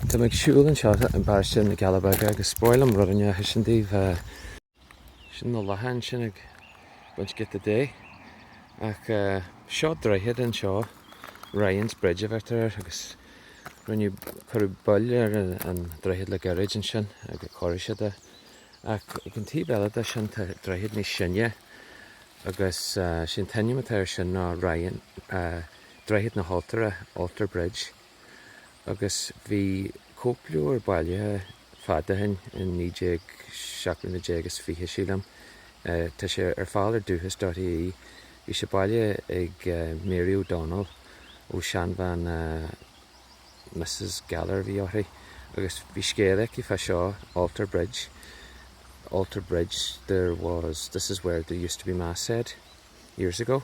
Tá mé ag siúl anseo i bparóiste na gCealla Beaga agus ba mhaith liom rud inteacht a insint daoibh, sin na lachain ansin ag baint giota de. Ach seo droichead anseo, Ryan's Bridge a bheirtear air agus rinneadh, cuireadh bail ar an droichead le gairid ansin agus chóirigh siad é. Ach ag an taobh eile de sin tá droichead níos sine agus sé an t-ainm atá air sin ná Ryan, Droichead na hAltóra, Altar Bridge. agus bhí cóipleabhair bailithe fada ó shin, i 1917 nó 1920 sílim. Tá sé ar fáil ar dúchas dot ie. Bhí sé bailithe ag Mary O'Donnell ó seanbhean Mrs Gallagher a bhí uirthi agus bhí scéal aici fá seo, Altar Bridge, Altar Bridge, this is where there used to be mass said years ago.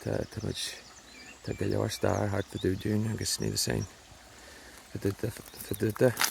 Tá, tá muid, tá go leor stair thart fadó dúinn agus ní the same fadó, fadó.